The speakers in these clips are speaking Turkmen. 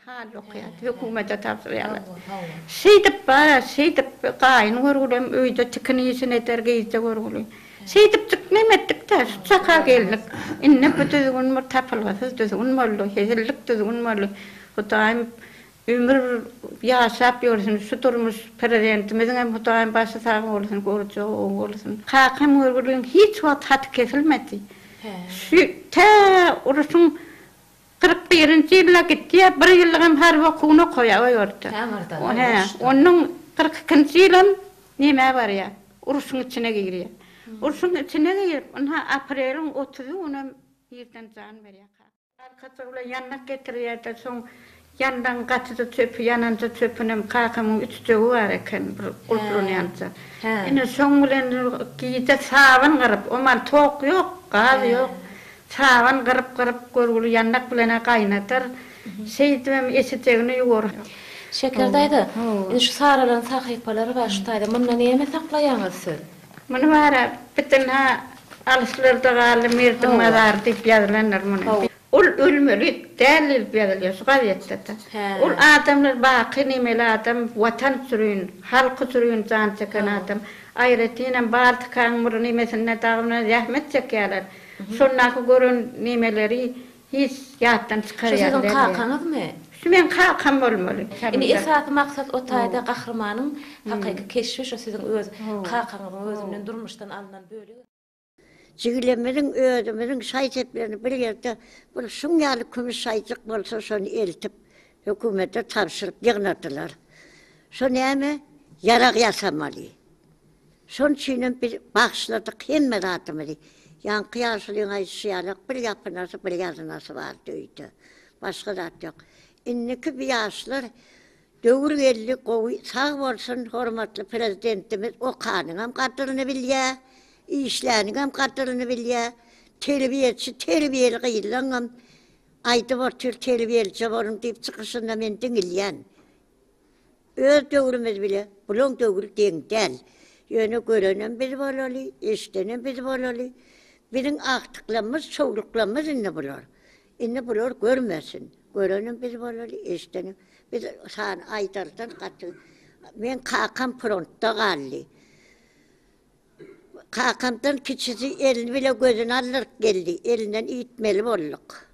Hal okaýar, hökümete tabşyrýarlar. Şeýdip barar, şeýdip gaýyn görgülem öýde tikin işini eder, gyzja görgüli. Şeýdipdik, neme etdik-dä, şu çaka geldik. Indi bu düzgün bir tapylgysyz düzgün boldy, hezillik düzgün boldy. Hudaýym Ömür ýaşap ýörsün şu durmuş prezidentimiziňem hudaýym başy sag bolsun görjagy oň bolsun kakam görgüliň hiç wagt haty kesilmedi şu tä uruşyň kyrk birinji ýylda gitýä bir ýyllygam harby okuwyny okaýa o ýurtda hä ondan kyrk ikinji ýylam nämä barýa uruşyň içine girýä urşuň içine girip ynha apreliň otuzy günüm ýerden jan berýä kakam. Arkasy bilen ýandak getirýärdi. Soň ýandagyň gatyda çöpi ýananja çöpünem kakamyň ütüjegi bar eken bir gurplanýança. Ine şoň bilen gije saban gyryp, omal tok ýok, gaz ýok. Saban gyryp-gyryp görgüli ýandak bilen-ä gaýnadar. Şeýdibem eşejegini ýuwar. Şeker daýza, indi şu saralan sahypalary bar şu taýda. Munda näme saklaýaňyz siz? Muny bara biten ha alyslarda galdy Merdiň mazary diýip ýazylandyr muny. Ol ölmeli däldi diýip ýazylýar şu gazetdede. Ol adamlar baky nemeli adam watan sürün, halky sürün jan çeken adam. Aýratynam Baltikaň bir nemesinde dagyna zähmet çekýärler. Şondaky gören nemeleri Hiç, ýatdan çykarýar Şu siziň kakaňyzmy? Şu meň kakam bolmaly. Indi esasy maksat o taýda gahrymanyň hakyky keşbi şu siziň öz kakaňyzyň özünden durmuşdan alnan bölegi. Jigilimiziň özümiziň şaý-seplerini bir ýerde bir şuň ýaly kümüş şaýjyk bolsa şony eltip hökümete tabşyryp ýygnadylar. Şu näme? Ýarag ýasamaly. Şonuň üçinem biz bagyşladyk hemme zadymyzy. Ýaňky ýaşulyň aýdyşy ýalak, bir ýapynasy, bir ýazynasy bardy öýde. Başga zat ýok. Indiki bu ýaşlar döwür geldi, gowy, sag bolsun, hormatly Prezidentimiz okanyňam gadyryny bilýär, işläniňem gadyryny bilýär. Terbiýeçi, terbiýeli gyzlaňam aýdyp otyr, terbiýelije boluň diýip çykyşynda men diňilýän. Öz döwrümiz bile bulaň döwri deň däl. Ýöne görenem biz bolaly, eşdenem biz bolaly. Biziň agtyklammyz, çowluklammyz indi bular. Indi bular görmesin. Görenem biz bolaly, eşdenem. Biz sany aýdardan gaty. Meň kakam frontda galdy. Kakamdan kiçisi eli bile gözüni aldyryp geldi. Elinden iýtmeli bolduk.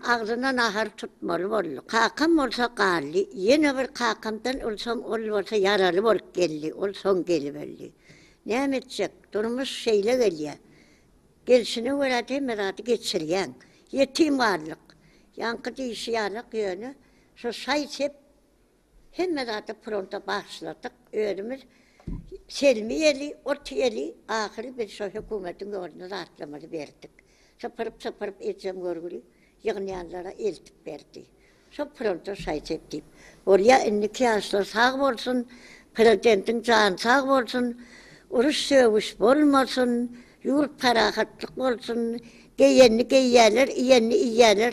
Agzyna nahar tutmaly bolduk. Kakam bolsa galdy. Ýene bir kakamdan ylsam ol bolsa ýaraly bolup geldi. Ol soň gelip öldi. Näme etjek? Durmuş şeýle gelýär. Gelşine görä-de hemme zady geçirýäň. Ýetim galdyk. Ýaňky diýşi ýalak ýöne şo şaý-sep. Hemme zady fronta bagyşladyk. Özümiz Selmi ýeli, ot ýeli, ahyry biz şo hökümetiň ýoluna zatlamyzy berdik. Sypyryp-sypyryp ejem görgüli ýygnanlara eltip berdi. Şo fronta şaý-sep diýip. Bolýa indiki ýaşlar sag bolsun, prezidentiň jany sag bolsun, uruş-sögüş bolmasyn, ýurt parahatlyk bolsun, geýenini geýýäler, iýenini iýýäler.